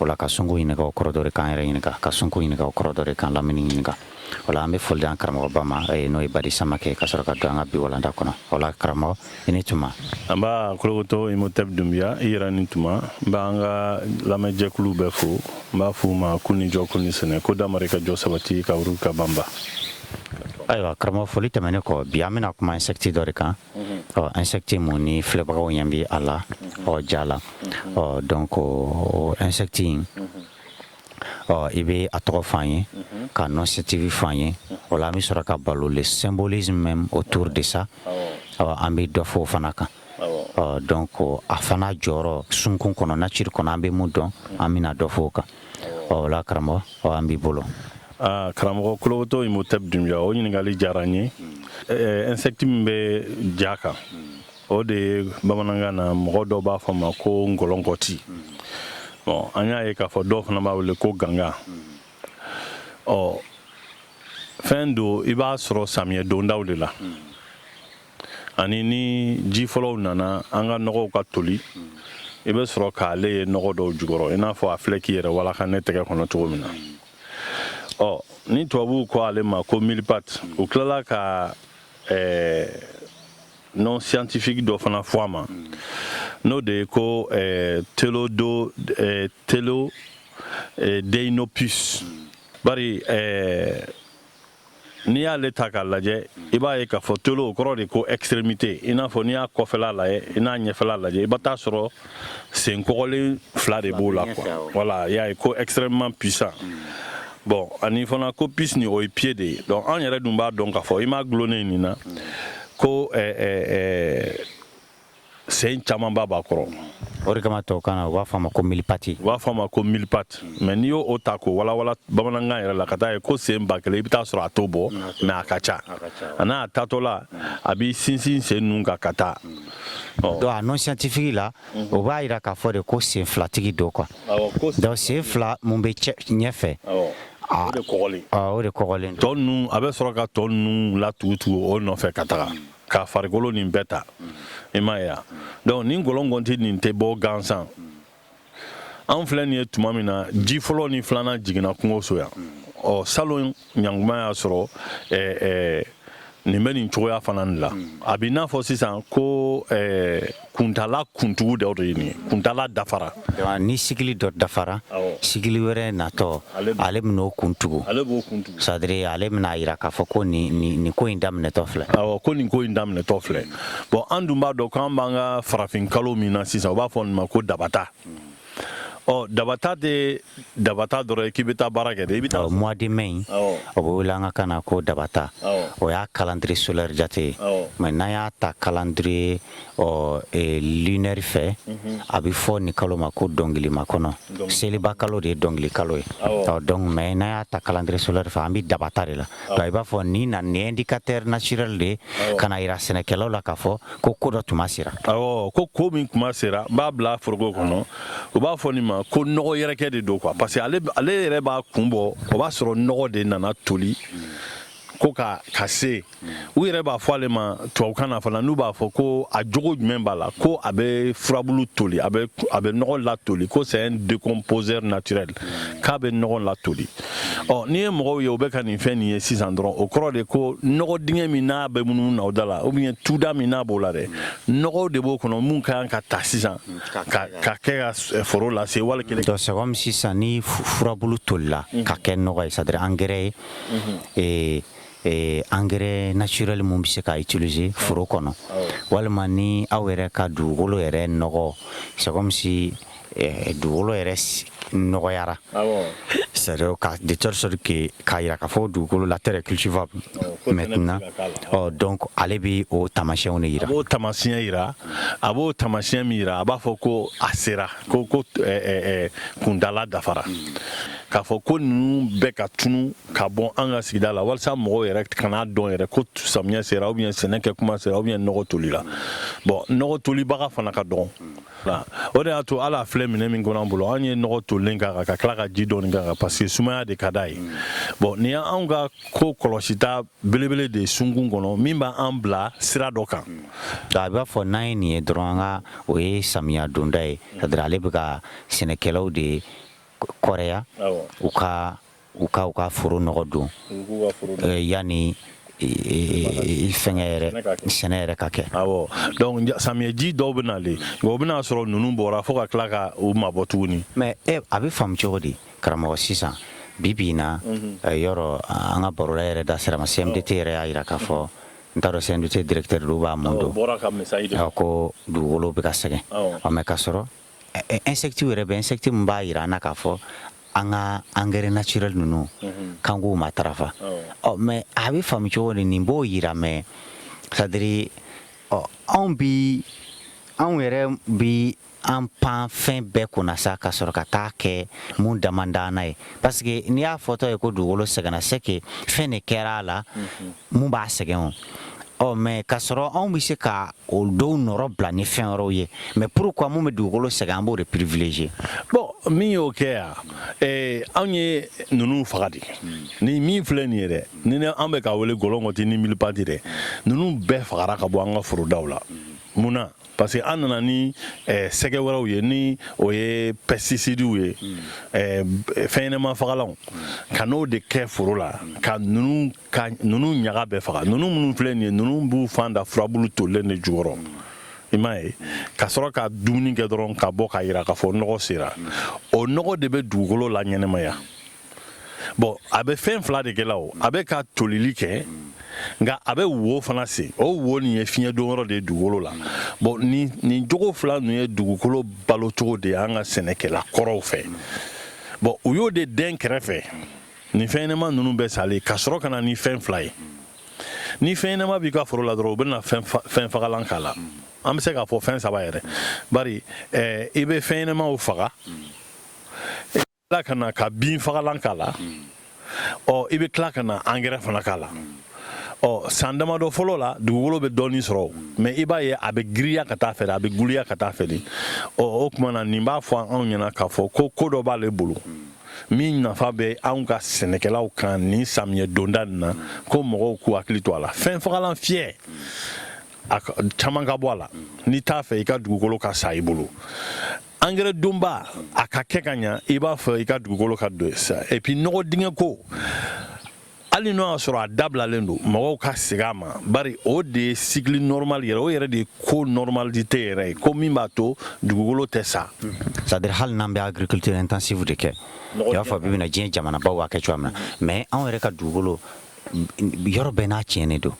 O la ka sunkun ɲininka o kɔrɔ dɔ de k'an yɛrɛ ɲininka ka sunkun ɲininka o kɔrɔ dɔ de k'an lamini ɲininka o la an bɛ foli di an karamɔgɔba ma ee, n'o ye badi samakɛ ka sɔrɔ ka don an ka bi walanda kɔnɔ o la karamɔgɔ i ni tuma nba kolokotɔ imotɛb dunbiya i yɛrɛ ni tuma n b'an ka lamɛnjɛkuluw bɛɛ fo n b'a f'u ma k'u ni jɔ k'u ni sɛnɛ ko damari ka jɔ sabati ka wuru ka banba ayiwa karamɔgɔ foli tɛmɛnen kɔ bi an bɛna kuma insɛkiti dɔ de kan ɔ insɛkiti min ni filɛbagaw ɲɛ bɛ a la ɔ ja la ɔ donc insɛkiti in ɔ i bɛ a tɔgɔ fɔ an ye k'a nom scientifique fɔ an ye o la an bɛ sɔrɔ ka balo le symbolisme même autour de ça ɔ an bɛ dɔ fɔ o fana kan ɔ donc a fana jɔyɔrɔ sunkun kɔnɔ nature kɔnɔ an bɛ mun dɔn an bɛna dɔ fɔ o kan o la karamɔgɔ ɔ an b'i bolo Ah, karamɔgɔ kolokotɔ imhotep dunbuya o ɲininkali diyara n ye eh, insecte min bɛ ja kan o de ye bamanankan na mɔgɔ dɔw b'a fɔ ma ko ngɔlɔnkɔti bon an y'a ye k'a fɔ dɔw fana b'a wele ko ganga ɔ fɛn don i b'a sɔrɔ samiyɛ dondaw de la ani ni ji fɔlɔw nana an ka nɔgɔw ka toli i bɛ sɔrɔ k'ale ye nɔgɔ dɔw jukɔrɔ i n'a fɔ a filɛ k'i yɛrɛ walaka ne tɛgɛ kɔnɔ cogo min na ɔ ni tubabuw ko ale ma ko mille-pattes u tilala ka eh, nom scientifique dɔ fana fɔ a ma n'o de ye ko eh, telodo eh, telo eh, deinopus bari eh, N'i y'ale ta k'a lajɛ i b'a ye k'a fɔ telo o kɔrɔ de ko extrémité i n'a fɔ n'i y'a kɔfɛla lajɛ i n'a ɲɛfɛla lajɛ i bɛ t'a sɔrɔ sen kɔgɔlen fila de b'o la wala y'a ye ko extrêmement puissant bon ani fana ko pus ni o ye pied de ye donc an yɛrɛ dun b'a dɔn k'a fɔ i m ma dulonnen nin na ko sen camanba b'a kɔrɔ o de kama tɔw kan na u b'a fɔ a ma ko mille-pattes u b'a fɔ a ma ko mille-pattes mais n'i y'o ta k'o walawala bamanankan yɛrɛ la ka taa ye ko sen ba kelen i bɛ taa sɔrɔ a t'o bɔ mais a ka ca a n'a taatɔ la a b'i sinsin sen ninnu kan ka taa donc a nom scientifique la o b'a jira k'a fɔ de ko sen filatigi don quoi donc sen fila min bɛ ɲɛfɛ o de kɔgɔlen tɔ ninnu a bɛ sɔrɔ ka tɔ ninnu latugutugu o nɔfɛ ka taga ka farikolo nin bɛɛ ta i m'a ye donc ni ngɔlɔngɔnti nin tɛ bɔ gansan an filɛ nin ye tuma min na ji fɔlɔ ni filanan jiginna kungo so yan ɔ salon ɲanguma y'a sɔrɔ ɛɛ nin bɛ nin cogoya fana de la a bɛ i n'a fɔ sisan ko ɛɛ kuntaala kuntugu dɔ de ye nin ye kuntaala dafara Donc, ni cycle dɔ dafara Awɔ. cycle wɛrɛ natɔ Ale b'o- ale bɛn'o kuntugu ale b'o kuntugu c'est-à-dire ale bɛna a jira k'a fɔ ko nin nin nin ko in daminɛtɔ filɛ awɔ ko nin ko in daminɛtɔ filɛ bon an dun b'a dɔn k'an b'an ka farafin kalo min na sisan u b'a fɔ nin ma ko dabata ɔ dabata tɛ dabata dɔrɔn ye k'i bɛ taa baara kɛ dɛ i bɛ taa mois de mai in o bɛ wele an ka kan na ko dabata o y'a calendrier solaire jate ye mais n'an y'a ta calendrier ɔ e, lunaire fɛ mhm. a bɛ fɔ nin kalo ma ko dɔnkili makɔnɔ seliba kalo de ye dɔnkili kalo ye ɔ donc mais n'an y'a ta calendrier solaire fɛ an bɛ dabata de la donc i b'a fɔ ni indicateur naturel de ye ka n'a jira sɛnɛkɛlaw la k'a fɔ ko ko dɔ tuma sera ɔ ko ko min kuma sera n b'a bila foroko kɔnɔ u b'a fɔ nin ma ko nɔgɔ yɛrɛkɛ de don quoi parce que ale yɛrɛ b'a kun bɔ o b'a sɔrɔ nɔgɔ de nana toli ko ka ka se u yɛrɛ b'a fɔ ale ma tubabukan na fana n'u b'a fɔ ko a jogo jumɛn b'a la ko a bɛ furabulu toli a bɛ nɔgɔ latoli ko c'est un décomposeur naturel k'a bɛ nɔgɔ latoli ɔ n'i ye mɔgɔw ye o bɛ ka nin fɛn nin ye sisan dɔrɔn o kɔrɔ de ko nɔgɔ dingɛ min n'a bɛ munumunu na o da la ou bien tu da min n'a b'o la dɛ nɔgɔw de b'o kɔnɔ mun ka kan ka ta sisan ka ka kɛ ka eh, foro lase waati kelen donc c'est comme sisan ni furabulu tolila mhm. ka kɛ nɔgɔ ye c'est à dire engrais ye mhm. eh, eh, engrais naturel mun bɛ se ka utiliser foro kɔnɔ ah walima ni aw yɛrɛ ka dugukolo yɛrɛ nɔgɔ c'est comme si dugukolo yɛrɛ nɔgɔyara sa ka de sɔrɔ k'a jira k'a fɔ dugukolo la tɛ kisifa mɛ na dɔn ale bɛ o taamasiyɛnw de jira o taamasiyɛn jira a b'o taamasiyɛn min jira a b'a fɔ ko a sera ko ko kundala dafara k'a fɔ ko ninnu bɛ ka tunun ka bɔ an ka sigida la walasa mɔgɔw yɛrɛ kan'a dɔn yɛrɛ ko samiya sera ou bien sɛnɛkɛ kuma sera ou bien nɔgɔ tolila bon nɔgɔ tolibaga fana ka dɔn o de y'a to ala filɛ minɛn min kɔnɔ an bolo an ye nɔgɔ tolilen k'a kan ka tila ka ji dɔɔni k'a kan parce que sumaya de ka d'a ye bon nin y'anw ka ko kɔlɔsita belebele de ye sunkun kɔnɔ min b'an bila sira dɔ kan a b'a fɔ n'an ye nin ye dɔrɔn an ka o ye samiya donda ye c'est à dire ale bɛ ka sɛnɛkɛlaw de kɔrɛya u ka u ka u ka foro nɔgɔ don yanni fɛnkɛ yɛrɛ sɛnɛ yɛrɛ ka kɛ samiyɛji dɔw bɛ nalen o bɛna'a sɔrɔ ninnu bɔra fo ka tila ka u ma bɔ tuguni mais a bɛ faamu cogo di karamɔgɔ sisan bi bi in na yɔrɔ an ka baro yɛrɛ da sira ma CMDT yɛrɛ y'a jira k'a fɔ n taara CMDT directeur b'a ma ko dugukolo bɛ ka sɛgɛn mais ka sɔrɔ Insecte yɛrɛ bɛ insecte min b'a jira an na k'a fɔ an ka engrais naturel ninnu kan k'u matarafa ɔ mais a bɛ faamu cogo di nin b'o jira mais c'est à dire ɔ anw bi anw yɛrɛ bi an pan fɛn bɛɛ kunna sa ka sɔrɔ ka taa kɛ minnu damadan ye parce que n'i y'a fɔtɔ ye ko dugukolo sɛgɛnna c'est que fɛn de kɛra a la mun b'a sɛgɛn o ɔ mais ka sɔrɔ anw bɛ se ka o dɔw nɔrɔbila ni fɛn wɛrɛw ye mais pourquoi mun bɛ dugukolo sɛgɛn an b'o de privilégier bon min y'o kɛ yan eh, anw ye ninnu faga de ni min filɛ nin ye dɛ ni an bɛ k'a wele gɔlɔn kɔti ni milipati dɛ ninnu bɛɛ fagara ka bɔ an ka forodaw la mun na parce que an nana ni eh, sɛgɛ wɛrɛw ye ni o ye pɛsitisidiw ye eh, fɛnɲɛnama fagalanw ka n'o de kɛ foro la ka ninnu ka ninnu ɲaga bɛɛ faga ninnu minnu filɛ nin ye ninnu b'u fan da furabulu tolilen de jukɔrɔ i m'a ye ka sɔrɔ ka dumuni kɛ dɔrɔn ka bɔ k'a yira k'a fɔ nɔgɔ sera o nɔgɔ de bɛ dugukolo laɲɛnamaya bon a bɛ fɛn fila de kɛla o a bɛ ka tolili kɛ nka a bɛ wo fana sen o wo nin ye fiɲɛdonyɔrɔ de ye dugukolo la bon nin nin jogo fila ninnu ye dugukolo balocogo de ye an ka sɛnɛkɛla kɔrɔw fɛ bon u y'o de dɛn kɛrɛfɛ nin fɛnɲɛnama ninnu bɛɛ salen ka sɔrɔ ka na ni fɛn fila ye ni fɛnɲɛnama b'i ka foro la dɔrɔn u bɛ na fɛnfagalan k'a la an bɛ se k'a fɔ fɛn saba yɛrɛ bari eh, i bɛ fɛnɲɛnamaw faga i tila ka na ka binfagalan k'a la ɔ i bɛ tila ka na angɛrɛ fana k'a la ɔ san damadɔ fɔlɔ la dugukolo bɛ dɔɔnin sɔrɔ mais i b'a ye a bɛ giriya ka taa fɛ a bɛ guliya ka taa fɛ ɔ o tuma na nin b'a fɔ anw ɲɛna k'a fɔ ko ko dɔ b'ale bolo min nafa bɛ anw ka sɛnɛkɛlaw kan ni samiyɛ donda nin na ko mɔgɔw k'u hakili to a la fɛnfagalan fiyɛ a caman ka bɔ a la n'i t'a fɛ i ka dugukolo ka sa i bolo angɛrɛ donba a ka kɛ ka ɲa i b'a fɛ i ka dugukolo ka don sa et puis nɔgɔ dingɛ ko hali n'o y'a sɔrɔ a dabilalen don mɔgɔw ka segin a ma bari o de ye cycle normal yɛrɛ o yɛrɛ de ye ko normalité yɛrɛ ye ko min b'a to dugukolo tɛ sa c'est à dire hali n'an bɛ agriculture intensive de kɛ i b'a fɔ bi bi in na diɲɛ jamanabaw b'a kɛ cogoya min na mais anw yɛrɛ ka dugukolo yɔrɔ bɛɛ n'a tiɲɛnen don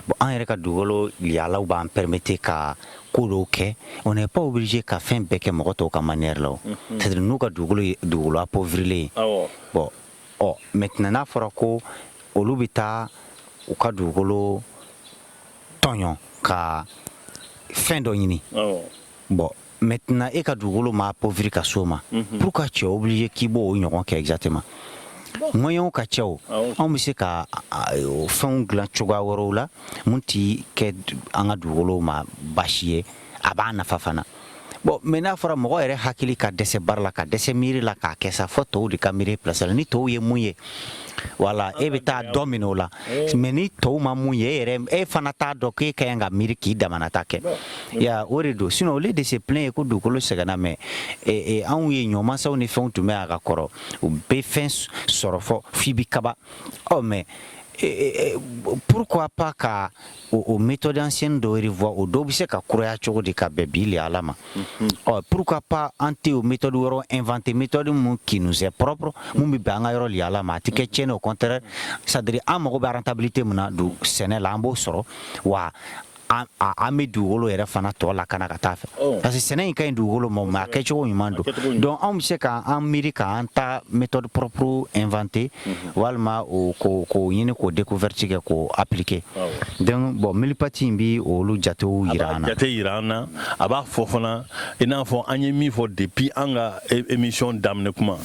bon an yɛrɛ ka dugukolo yaalaw b'an permettre ka ko dɔw kɛ on n'est pas obligé ka fɛn bɛɛ kɛ mɔgɔ tɔw ka manière la o c'est à dire n'u ka dugukolo ye dugukolo appauvrilen ye bon ɔ maintenant n'a fɔra ko olu bɛ taa u ka dugukolo tɔɲɔ ka fɛn dɔ ɲini bon maintenant e ka dugukolo ma appauvri ka s'o ma mhm. pour que c'est obligé k'i b'o ɲɔgɔn kɛ exactement moyenw ka ca anw bɛ se ka fɛnw dilan cogoya wɛrɛw la min tɛ kɛ an ka dugukolo ma baasi ye a b'a nafa fana bon mais n'a fɔra mɔgɔ yɛrɛ hakili ka dɛsɛ baara la ka dɛsɛ miiri la k'a kɛ sa fo tɔw de ka miiri plasi la ni tɔw ye mun ye wala e bɛ taa dɔ min o la mais ni tɔw ma mun ye e yɛrɛ e fana t'a dɔn k'e ka kan ka miiri k'i damana ta kɛ ya o de don sinon au lieu de se plaindre ko dugukolo sɛgɛnna mais anw ye ɲɔmasaw ni fɛnw tun bɛ a ka kɔrɔ u bɛ fɛn sɔrɔ fo fi bɛ kaba aw mais pourquoi pas ka o méthode ancienne dɔw revoir o dɔw bɛ se ka kuraya cogo di ka bɛn bi lahala ma ɔ pourquoi pas an tɛ o méthode wɛrɛ inventer méthode minnu qui nous est propre minnu bɛ bɛn an ka yɔrɔ lahala ma a tɛ kɛ tiɲɛni au contraire c'est-à-dire an mago bɛ rentabilité min na don sɛnɛ la an b'o sɔrɔ wa an bɛ dugukolo yɛrɛ fana tɔ lakana ka taa fɛ parce que sɛnɛ in ka ɲi dugukolo ma mais a kɛcogo ɲuman don donc anw bɛ se k'an miiri k'an ta méthode propre inventer walima o ko k'o ɲini k'o découverte kɛ k'o appliquer awɔ donc bon mille pattes in bi olu jatew jira an na a b'a jate jira an na a b'a fɔ fana i n'a fɔ an ye min fɔ depuis an ka émission daminɛ kuma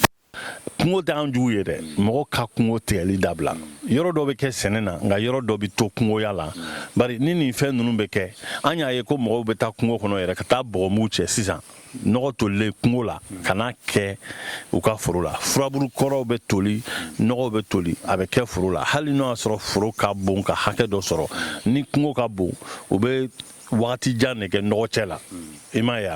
kungo t'an jugu ye dɛ mɔgɔ ka kungo tigɛli dabila yɔrɔ dɔ bɛ kɛ sɛnɛ na nka yɔrɔ dɔ bɛ to kungoya la bari ni nin fɛn ninnu bɛ kɛ an y'a ye ko mɔgɔw bɛ taa kungo kɔnɔ yɛrɛ ka taa bɔgɔmugu cɛ sisan nɔgɔ tolilen kungo la ka n'a kɛ u ka foro la furaburu kɔrɔw bɛ toli nɔgɔw bɛ toli a bɛ kɛ foro la hali n'o y'a sɔrɔ foro ka bon ka hakɛ dɔ sɔrɔ ni kungo ka bon u bɛ wagati jan de kɛ nɔgɔ cɛ la i m'a ye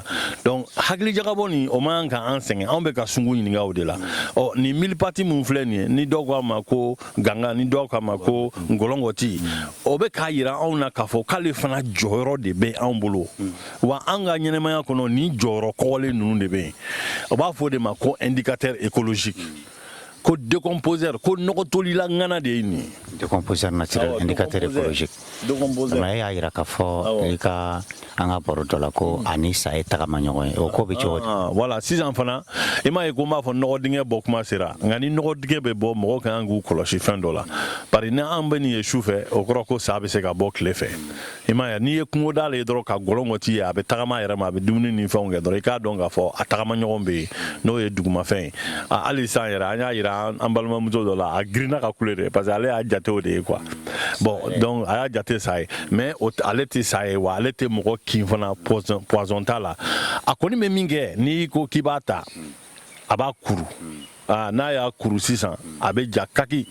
donc hakili jagabɔ nin o man kan ka an sɛgɛn anw bɛ ka sungu ɲininka o de la ɔ nin mille pattes min filɛ nin ye ni dɔw k'a ma ko ganga ni dɔw k'a ma ko ngɔlɔngɔti o bɛ k'a jira anw na k'a fɔ k'ale fana jɔyɔrɔ de bɛ anw bolo Wa an ka ɲɛnamaya kɔnɔ ni jɔyɔrɔ kɔgɔlen ninnu de bɛ yen u b'a fɔ o de ma ko indicateur écologique ko décomposeur ko nɔgɔtolila ŋana de ye nin ye décomposeur e y'a jira ka fɔ i ka an ka baro dɔ la ko ani sa ye tagama ɲɔgɔn ye o ko bɛ cogo di voilà sisan fana i m'a ye ko n b'a fɔ nɔgɔdingɛ bɔ kuma sera nka ni nɔgɔdingɛ bɛ bɔ mɔgɔ ka kan k'u kɔlɔsi fɛn dɔ la bari n'an bɛ nin ye su fɛ o kɔrɔ ko sa bɛ se ka bɔ tile fɛ i m'a ye n'i ye kungo d'ale ye dɔrɔn ka gɔlɔngɔti ye a bɛ tagama a yɛrɛ ma a bɛ dumuni ni fɛnw kɛ dɔrɔn i k'a dɔn k'a fɔ a tagama ɲɔgɔn bɛ yen n'o ye dugumafɛn ye hali sisan yɛrɛ an y'a jira an balimamuso dɔ la a girinna ka kule de parce que ale y'a jate o de ye quoi bon donc a y'a jate sa ye mais ale tɛ sa ye wa ale tɛ mɔgɔ kin fana poison poison t'a la a kɔni bɛ min kɛ n'i ko k'i b'a ta a b'a kuru aa n'a y'a kuru sisan a bɛ ja kaki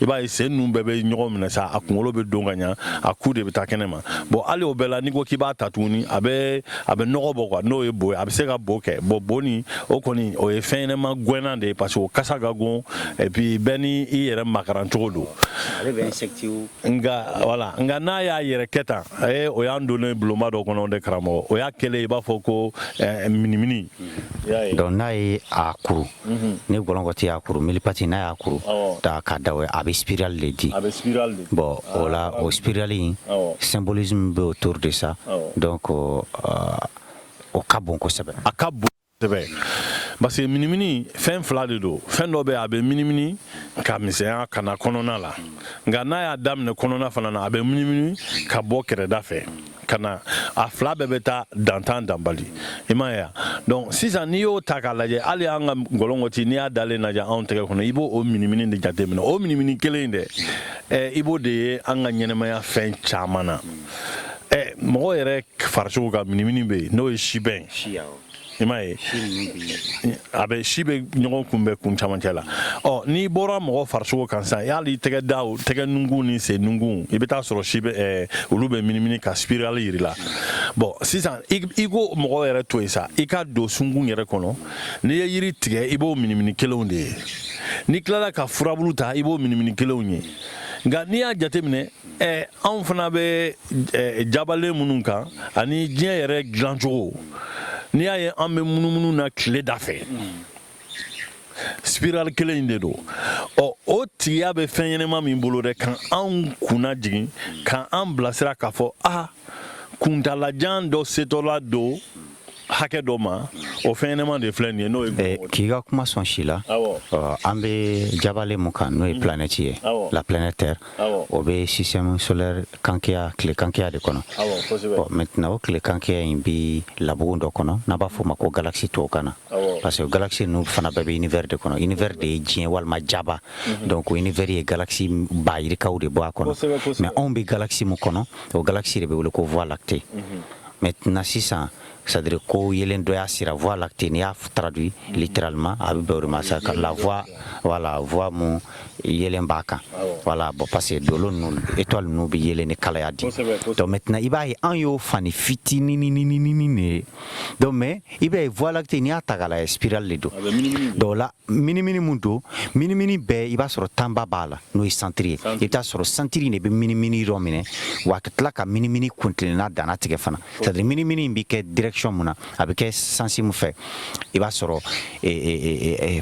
i b'a ye sen ninnu bɛɛ bɛ ɲɔgɔn minɛ sa a kunkolo bɛ don ka ɲa a ku de bɛ taa kɛnɛ ma bon hali o bɛɛ la n'i ko k'i b'a ta tuguni a bɛ a bɛ nɔgɔ bɔ quoi n'o ye bo ye a bɛ se ka bo kɛ bon bo nin o kɔni o ye fɛn ɲɛnɛma gɛnnan de ye parce que o kasa ka gon et puis bɛɛ ni i yɛrɛ makaran cogo don ale bɛ insectiw nka wala nka n'a y'a yɛrɛ kɛ tan ee o y'an donnen bulonba dɔ kɔnɔ dɛ karamɔgɔ o y'a kɛlen i b'a fɔ ko eh, minimini Donc n'a ye a kuru ni ngɔlɔngɔti y'a kuru mille-pattes n'a y'a kuru da ka da a bɛ spirale de di bon o la o spirale in symbolisme bɛ autour de ça donc o ka bon kosɛbɛ a ka bon kosɛbɛ parce que minimini fɛn fila de don fɛn dɔ bɛ a bɛ minimini ka misɛnya ka na kɔnɔna la nka n'a y'a daminɛ kɔnɔna fana na a bɛ minimini ka bɔ kɛrɛda fɛ ka na a fila bɛɛ bɛ taa dantan danbali i m'a ye donc sisan n'i y'o ta k'a lajɛ hali an ka ngɔlɔngɔti n'i y'a dalen lajɛ anw tɛgɛ kɔnɔ i b'o o minimini de jateminɛ o minimini kelen in dɛ eh, i b'o de ye an ka ɲɛnɛmaya fɛn caman na eh, mɔgɔ yɛrɛ farisogo ka minimini bɛ yen n'o ye sibɛn i m'a ye a bɛ si bɛ ɲɔgɔn kunbɛn kun camancɛ la ɔ n'i bɔra mɔgɔ farisogo kan sisan hali tɛgɛ da tɛgɛ nunkun ni sen nunkun i bɛ t'a sɔrɔ si bɛ olu bɛ minimini ka spirale yiri la bon sisan i k'o mɔgɔ yɛrɛ to yen sa i ka don sunkun yɛrɛ kɔnɔ n'i ye yiri tigɛ i b'o minimini kelenw de ye n'i tilala ka furabulu ta i b'o minimini kelenw ye nka n'i y'a jateminɛ ɛ anw fana bɛ jabalen minnu kan ani diɲɛ yɛrɛ dilancogo n'i y'a ye an bɛ munumunu na tile da fɛ spiral kelen in de don ɔ o tigiya bɛ fɛn ɲɛnɛma min bolo dɛ ka anw kunna jigin ka an bilasira k'a fɔ a kuntaalajan dɔ setɔla don hakɛ dɔ ma o fɛn ɲɛnɛma de filɛ nin ye n'o ye eh, k'i ka kuma sɔn si la an bɛ jabalen mun kan n'o ye mm. planète ye la planète terre o bɛ système solaire kankeya tile kankeya de kɔnɔ ɔ maintenant o tile kankeya in bɛ labugun dɔ kɔnɔ n'a b'a fɔ o ma ko galaxie tubabukan na parce que galaxie ninnu fana bɛɛ bɛ univers de kɔnɔ univers de ye diɲɛ walima jaba mm-hmm. donc univers ye galaxie bayirikaw de bɔ a kɔnɔ mais anw bɛ galaxie mun kɔnɔ o galaxie de bɛ wele ko voie lactée maintenant sisan c'est-à-dire ko yeelen dɔ y'a sira voie lactée n'i y'a traduit littéralement a bɛ bɛn o de ma sa ka la voie voilà voie mun yeelen b'a kan voilà bon parce que dolo ninnu étoile ninnu bɛ yeelen ni kalaya di donc maintenant i b'a ye an y'o fannin fitinininininini de ye donc mais i b'a ye voie lactée n'i y'a ta k'a lajɛ spirale de don donc o la minimini min don minimini bɛɛ i b'a sɔrɔ tanba b'a la n'o ye santiri ye i bɛ t'a sɔrɔ santiri de bɛ minimini yɔrɔ minɛ wa a ka tila ka minimini kuntilenna danna tigɛ fana c'est à dire minimini in bɛ kɛ direction mun na a bɛ kɛ sansi mun fɛ i b'a sɔrɔ eh, eh, eh,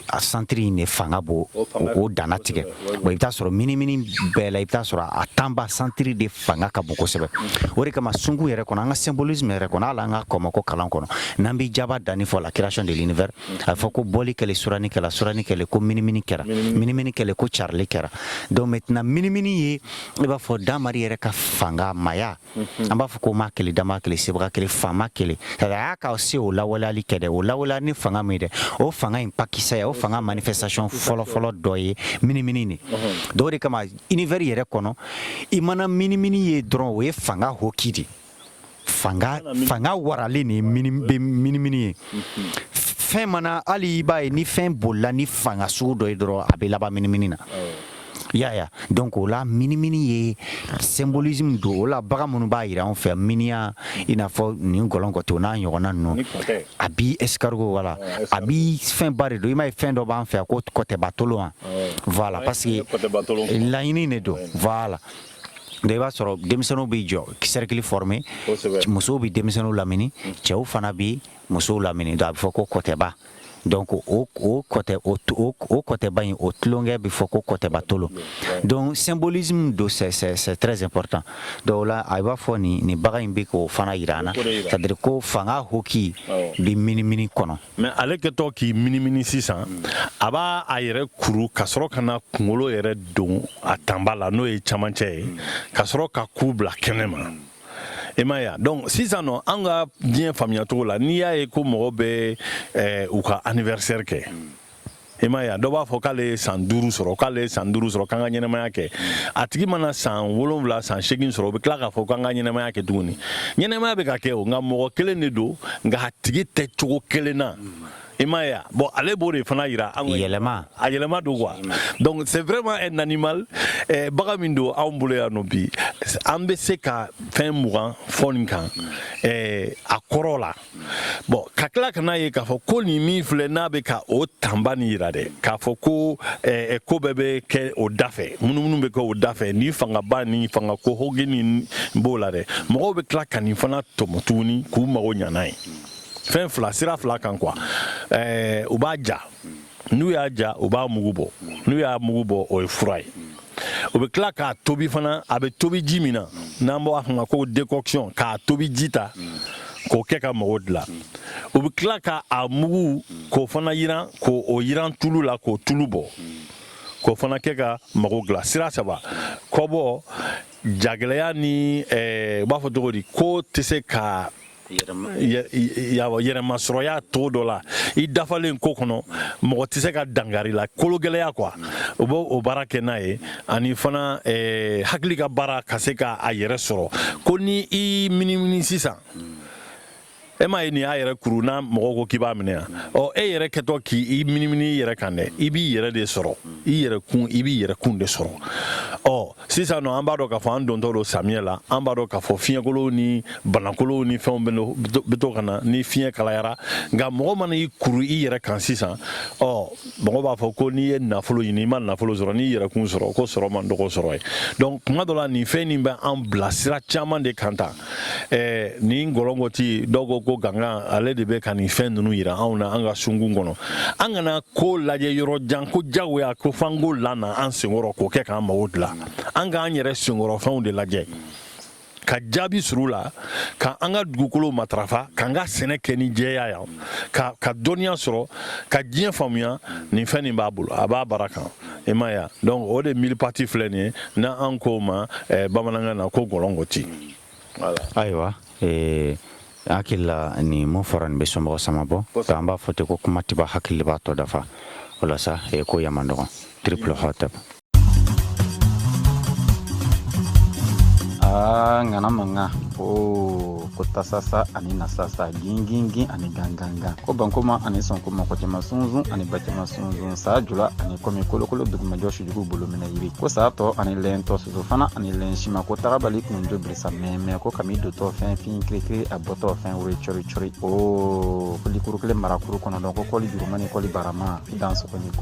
a santiri in de fanga b'o o danna tigɛ bon i bɛ t'a sɔrɔ minimini bɛɛ la i bɛ t'a sɔrɔ a tanba santiri de fanga ka bon kosɛbɛ o de kama sunku yɛrɛ kɔnɔ an ka symbolisme yɛrɛ kɔnɔ hali an ka kɔmɔko kalan kɔnɔ n'an bɛ jaba danni fɔ la création de l'univers a fɔ ko bɔli kɛlen surani kɛra surani kɛlen ko minimini kɛra minimini kɛlen ko carili kɛra donc maintenant minimini ye i b'a fɔ damari yɛrɛ ka fanga maya an b'a fɔ ko ma kelen dama kelen sebaga kelen faama kelen a y'a ka se o lawaleyali kɛ dɛ o lawaleya ni fanga min ye dɛ o fanga in pakisɛ ya o fanga manifestation fɔlɔfɔlɔ dɔ ye minimini de don o de kama univers yɛrɛ kɔnɔ i mana minimini ye dɔrɔn o ye fanga hoki de fanga fanga waralen de ye mini bɛ minimini ye fɛn mana hali i b'a ye ni fɛn bolila ni fanga sugu dɔ ye dɔrɔn a bɛ laban minimini na y'a ya donc o la minimini ye symbolisme don o la bagan minnu b'a jira an fɛ miniya i n'a fɔ nin gɔlɔnkɔtɛ o n'a ɲɔgɔnna ninnu a bi escargot wala a bi fɛnba de don i m'a ye fɛn dɔ b'an fɛ yan ko kɔtɛbatolon an voilà parce que laɲini de don voilà donc i b'a sɔrɔ denmisɛnninw b'i jɔ cercle former musow bɛ denmisɛnninw lamini cɛw fana bɛ musow lamini donc a bɛ fɔ ko kɔtɛba donc o kɔtɛ o o kɔtɛba in o tulonkɛ bɛ fɔ ko kɔtɛbatolon donc symbolisme don c'est c'est très important donc o la i b'a fɔ nin nin bagan in bɛ k'o fana jira an na c'est à dire ko fanga hoki bɛ minimini kɔnɔ mais ale kɛtɔ k'i minimini sisan a b'a a yɛrɛ kuru ka sɔrɔ ka na kungolo yɛrɛ don a tanba la n'o ye camancɛ ye ka sɔrɔ ka ku bila kɛnɛ ma i ma ya donc sisan nɔ an ka diɲɛ faamuyacogo la n'i y'a ye ko mɔgɔ bɛ eh, u ka anniversaire kɛ i ma ya dɔ b'a fɔ k'ale ye san duuru sɔrɔ k'ale ye san duuru sɔrɔ k'an ka ɲɛnamaya kɛ a tigi mana san wolonwula san segin sɔrɔ o bɛ tila k'a fɔ k'an ka ɲɛnamaya kɛ tuguni ɲɛnamaya bɛ ka kɛ o nka mɔgɔ kelen de don nka a tigi tɛ cogo kelen na i ma ya bon ale b'o de fana yira an na yɛlɛma a yɛlɛma don quoi donc c'est vraiment un animal eh, bagan min don anw bolo yan nɔ bi an bɛ se ka fɛn mugan fɔ nin kan eh, a kɔrɔ la bon ka tila ka n'a ye k'a fɔ ko nin min filɛ n'a bɛ ka o tanba ni yira dɛ k'a fɔ ko eh, eh, ko bɛɛ bɛ kɛ o dafɛ munumunu bɛ kɛ o dafɛ ni fangaba ni fanga ko hoki ni b'o la dɛ mɔgɔw bɛ tila ka nin fana tɔmɔ tuguni k'u mago ɲɛ n'a ye fɛn fila sira fila kan quoi eh, u b'a ja n'u y'a ja u b'a mugu bɔ n'u y'a mugu bɔ o ye fura ye o bɛ tila k'a tobi fana a bɛ tobi ji min na n'an b'a fɔ a ma ko décoction k'a tobi ji ta k'o kɛ ka mago dilan u bɛ tila ka a mugu k'o fana yiran k'o yiran tulu la k'o tulu bɔ k'o fana kɛ ka mago dilan sira saba kɔbɔ jagɛlɛya ni eh, u b'a fɔ cogo di ko tɛ se ka yɛrɛmasɔrɔya cogo dɔ la i dafalen ko kɔnɔ mɔgɔ tɛ se ka dankari i la kologɛlɛya quoi u b'o baara kɛ n'a ye ani fana eh, hakili ka baara ka se ka a yɛrɛ sɔrɔ ko ni i minimini sisan e m'a ye nin y'a yɛrɛ kuru n'a mɔgɔ ko k'i b'a minɛ yan ɔ e yɛrɛ kɛtɔ k'i minimini i yɛrɛ kan dɛ i b'i yɛrɛ de sɔrɔ i yɛrɛ kun i b'i yɛrɛ kun de sɔrɔ ɔ sisan nɔ an b'a dɔn k'a fɔ an dontɔ don samiyɛ la an b'a dɔn k'a fɔ fiɲɛkolow ni banakolow ni fɛnw bɛ to ka na ni fiɲɛ kalayara nka mɔgɔ mana i kuru i yɛrɛ kan sisan ɔ mɔgɔ b'a fɔ ko n'i ye nafolo ɲini i ma nafolo sɔrɔ n'i yɛrɛkun sɔrɔ ko sɔrɔ man dɔgɔ sɔrɔ ye donc kuma dɔ la nin fɛn nin bɛ an bila sira caman de kan tan ɛɛ nin gɔlɔngɔti dɔw ko ko gangan ale de bɛ ka nin fɛn ninnu yira anw na an ka sunkun kɔnɔ an kana ko lajɛ yɔrɔ jan ko jagoya ko f'an k'o lana an senkɔrɔ k'o kɛ k'an mago dilan an k'an yɛrɛ senkɔrɔfɛnw de lajɛ ka jaabi sɔrɔ u la ka an ka dugukolo matarafa k'an ka sɛnɛ kɛ ni jɛya ye an ka dɔnniya sɔrɔ ka diɲɛ faamuya nin fɛn nin b'a bolo a b'a baara kan i m'a ye donc o de mille-pattes filɛ nin ye n'an ko a ma eh, bamanankan na ko gɔlɔngɔti ayiwa eh, hakili la nin mo fɔra nin bɛ somɔgɔ sama bɔ ka an b'a fɔ ten ko kuma tɛ ban hakili b'a tɔ dafa o la sa eh, ko yaman dɔgɔn triple hotep aa ah, ŋana manga o oh, ko tasasa ani nasasa gingingin ani gangangan ko bankoma ani sɔnkoma ko jama sunzun ani bajama sonsan sa jula ani kɔmi kolokolo dugumajɔ sujugu bolo minɛ yiri ko sa tɔ ani lɛn tɔ soso fana ani lɛn sima ko tagabali kun jo bilisa mɛmɛ ko kami dotɔ fɛn fin kirikiri a bɔtɔ fɛn woro cɔri cɔri o kolikuru kelen marakuru kɔnɔ dɔn ko kɔli juruma ni kɔli barama dan sɔgɔni ko